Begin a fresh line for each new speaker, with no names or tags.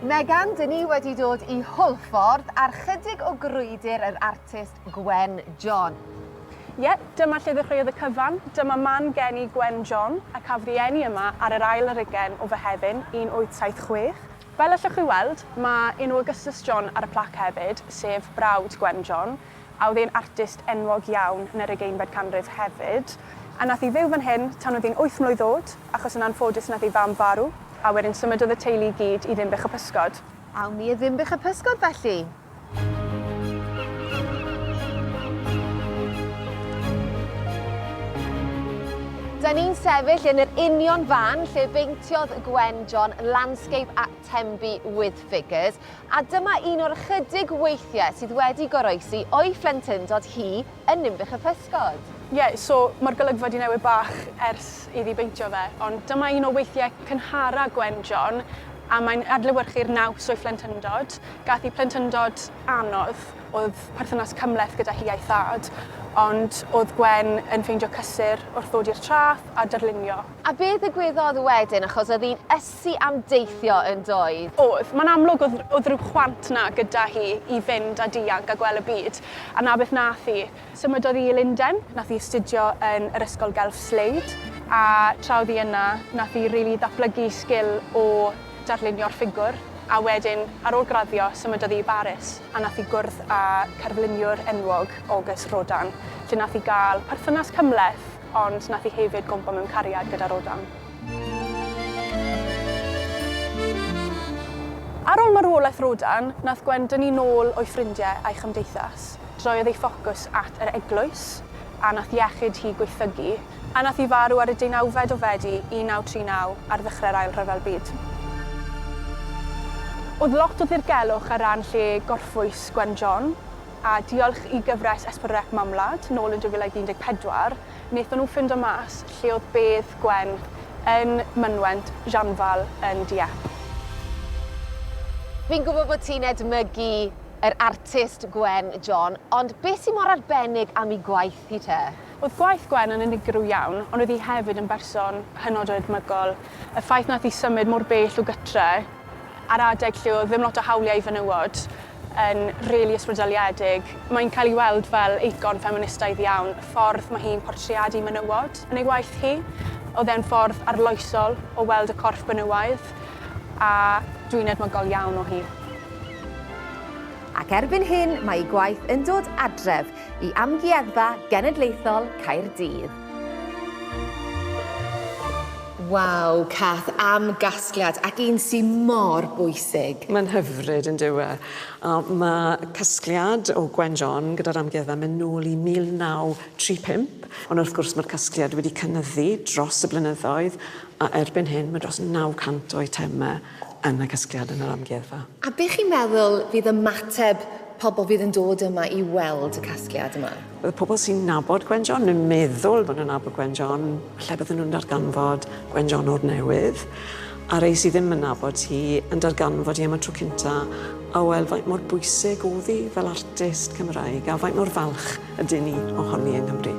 Megan, dyn ni wedi dod i Hwlffordd ar chydig o grwydr yr artist Gwen John. Ie, yeah, dyma lle ddechreuodd y cyfan. Dyma man geni Gwen John, a cafodd ei eni yma ar yr ail ar ugen o Fehefin 1876. Fel allwch chi weld, mae enw Augustus John ar y plac hefyd, sef brawd Gwen John. a oedd e'n artist enwog iawn yn yr ugeinfed canrif hefyd, a nath i fyw fan hyn tan oedd hi'n wyth mlwydd o'd, achos yn anffodus nath ei fam farw, a wedyn symudodd y teulu i gyd i Ddinbych y Pysgod. Awn ni i Ddinbych y Pysgod felly! Da ni'n sefyll yn yr union fan lle beintiodd Gwen John landscape at Tenby with Figures, A dyma un o'r ychydig weithiau sydd wedi goroesi o'i phlentyndod hi yn Ninbych y Pysgod. Ie, so mae'r golygfa 'di newid bach ers iddi beintio fe, ond dyma un o weithiau cynhara Gwen John, a mae'n adlewyrchu'r naws o'i phlentyndod. Gath hi plentyndod anodd, o'dd perthynas cymhleth gyda hi a'i thad, ond o'dd Gwen yn ffeindio cysur wrth ddod i'r traeth a darlunio. A be ddigwyddodd wedyn, achos o'dd hi'n Sy am deithio yn doedd? Oedd. Mae'n amlwg oedd, oedd rhyw chwant 'na gyda hi i fynd a dianc a gwel' y byd. A 'na beth nath hi. Symudodd hi i Lunden. Nath hi astudio yn yr Ysgol Gelf Slade. A tra oedd hi yna, nath hi rili ddatblygu sgil o darlunio'r ffigwr. A wedyn, ar ôl graddio, symudodd hi i Baris. A nath hi gwrdd â cerfluniwr enwog, Auguste Rodin, lle nath hi ga'l perthynas cymhleth, ond nath hi hefyd gwmpo mewn cariad gyda Rodin. Ar ol marwolaeth Rodan, nath Gwen dynnu nôl o'i ffrindie a'i chymdeithas. Droiodd ei ffocws at yr eglwys, a nath iechyd hi gwaethygu, a nath hi farw ar y deunawfed o Fedi 1939, ar ddychre'r Ail Rhyfel Byd. O'dd lot o ddirgelwch ar ran lle gorffwys Gwen John, a diolch i gyfres Esbyrrec Mamwlad, nôl yn 2014, Wnaethon nhw ffindo mas lle oedd bedd Gwen yn mynwent Jeanval yn Dieppe. Fi'n gwybod bod ti'n edmygu yr artist Gwen John, ond beth sy'n mor arbennig am ei gwaith hi te? Oedd gwaith Gwen yn unigryw iawn, ond oedd hi hefyd yn berson hynod o edmygol. Y ffaith wnaeth hi symud mor bell o gytre ar adeg lle oedd ddim lot o hawliau i fenywod, yn rili ysbrydoliedig. Mae'n cael ei weld fel eicon ffeministaidd iawn, y ffordd mae hi'n portreadu menywod yn ei waith hi. Oedd e'n ffordd arloesol o weld y corff benywaidd, a dwi'n edmygol iawn o hi. Ac erbyn hyn mae ei gwaith yn dod adref i Amgueddfa Genedlaethol Caerdydd. Waw, Cath, am gasgliad, ac un sy mor bwysig. Mae'n hyfryd, yn dyw e? A mae casgliad o Gwen John gyda'r Amgueddfa yn mynd nôl i 1935, ond wrth gwrs mae'r casgliad wedi cynyddu dros y blynyddoedd, a erbyn hyn mae dros 900 o eitemau. yn y casgliad yn yr amgueddfa. A be chi'n meddwl fydd ymateb pobl fydd yn dod yma i weld y casgliad yma? Wel, pobl sy'n nabod Gwen John, neu'n meddwl bod nhw'n nabod Gwen John, falle bydden nhw'n darganfod Gwen John o'r newydd, a rei sydd ddim yn nabod hi yn darganfod hi am y tro cynta, a weld faint mor bwysig oedd hi fel artist Cymraeg, a faint mor falch ydyn ni ohoni yng Nghymru.